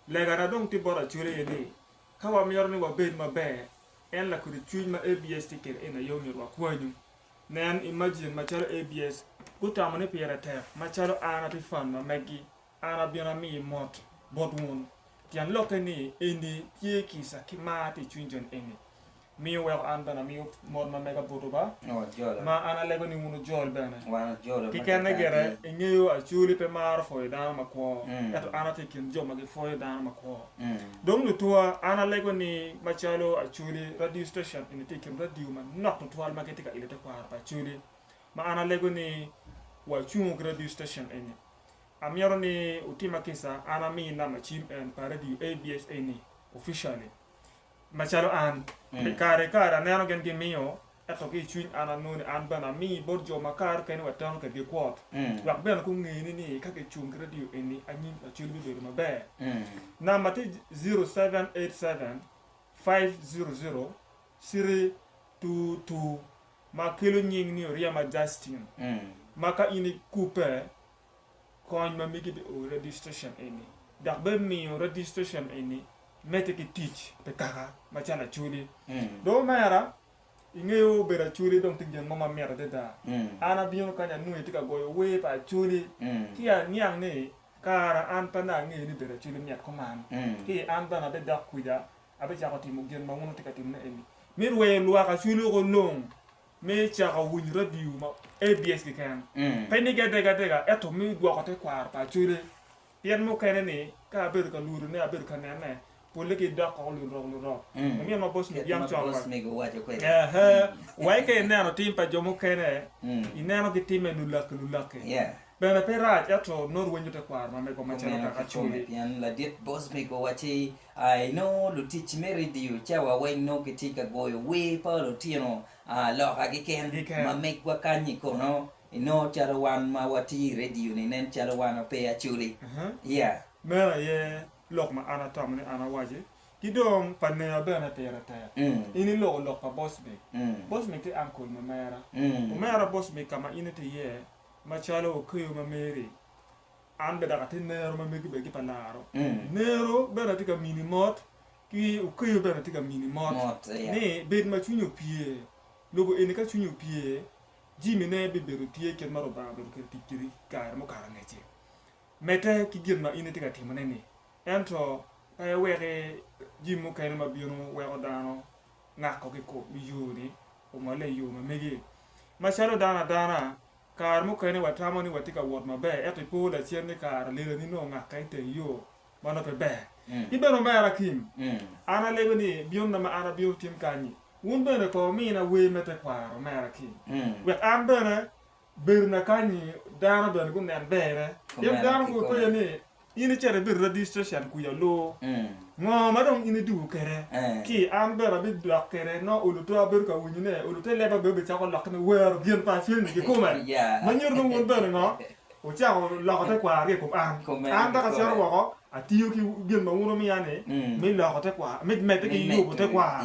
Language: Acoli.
Legana dong tye bot Acholi aye ni, ka wamito ni wabed maber, en lakudi cwiny ma ABS tye kede eni aye omyero wakwanyu. Nen imajin macalo ABS gutamo ni pire tek macalo an atye fan ma meggi, an abino amiyi mot bot wun. Tyen lokke ni eni tye kica ki mar tye icwiny joni eni. Miyo weko an bene amiyo mot ma mega botwu ba, ma an alego ni wun wujol bene. Kikene gire, ingeyo Acoli pe maro pwoyo dano makwo, ento an atye i kin jo ma gipwoyo dano makwo. Dong lutuwa, an alego ni macalo Acoli, radio station eni tye i kin radio manok tutwal ma gitye ka ilo tekwaro pa Acoli, ma an alego ni wacungo ki radio station eni. Amyero ni wutima kisa, an ami namba cim en pa radio ABS eni officially. Macalo an, pi kare ki kare aneno gin gimiyo, ento ki i cwiny an anongo ni an bene ami bot jo makato kene wek teno kwedgi kwot. Dok bene gungeni ni ka kicung ki radio eni anyim Lacwel bibedo maber. Namba tye 0787-500-322 ma kelo nying ni Oryema Justin, ma ka in ikubbe kony ma mege bi o i registration eni dok bene miyo registration eni medde ki tic pi kaka macalo acholi. Dong omera, ingeyo bedo acholi dong tye gin mo ma mit adada. An abino kany anongo itye ka goyo wer pa acholi ci aniang ni kara an pe anongo angeyo ni bedo acholi mit kuman. Ci an bene abidok kwija abicako timo gin ma wun wutye ka timone eni me rweyo lwak acholi woko long. me cako winyo radio ma ABS keken, pe ni gede adega ento miyo dwoko te kwaro pa Acholi pien mukene ni ka abedo ka lwodo ne abedo ka nene pole gi dok koko lurok lurok omiyo ma boss mig yam cok wai wai ka ineno tim pa jo mukene ineno gi time lulaki lulaki bene pe rac ento nongo rwenyo te kwaro ma mego macalo kaka Acholi. A Inongo lutic me redio cawa weng nongo gitye ka goyo wer pa lutino loka keken. Ma megwa kany-nyi kono, inongo calo wan ma watye i redio-ni nen calo wan wape acoli. Iya. Meno aye lok ma an atamo ni an awaci. Ki dong pa Nea bene pire tek. In iloko lok pa Bosby. Bosby ti ankol ma mera. Omera Bosby ka ma in itye iye, macalo okeyo ma meri, An bene dok atye nero ma megi bene gipe laro. Nero bene atye ka mini mot, ki okeyo bene atye ka mini mot, ni bed ma cwinyi opye. Lobo eni ka cwinyi opye, jimine bibedo tye kit ma Rubanga obedo kwede tic kwedi i kare mukato angec-ci. Medde ki gin ma in itye ka timone-ni. Ento pe iweki jami mukene ma bino weko dano ngako ki i kom yo-ni omolle i yo ma megi. Macalo dano adana. Kare mukene watamo ni watye ka wot maber, ento i po lacen ni kare lelani nongo ngakke i teng yo ma nongo pe ber. In bene omera Kim, an alebe ni byonna ma an abino tim kany-nyi, wun bene kong wumina wer me tekwaro, omera Kim, wek an bene bedona kany-nyi dano bene gunen berne. Pien dano gupenyo ni. in icito ibido registration kwica oloo ngo ma dong in iduku kede ki an bene abi dok kede nongo oluto abedo ka winyo ne olute leba bene obi cako lok kine wero gin pa cwiny ni kikume ma nyuto ni wun bene ngo wucako loko te kwaro ki ikom an an dok acito woko atiyo ki gin ma wun wumiya ni me loko te kwaro me mede ki yubu te kwaro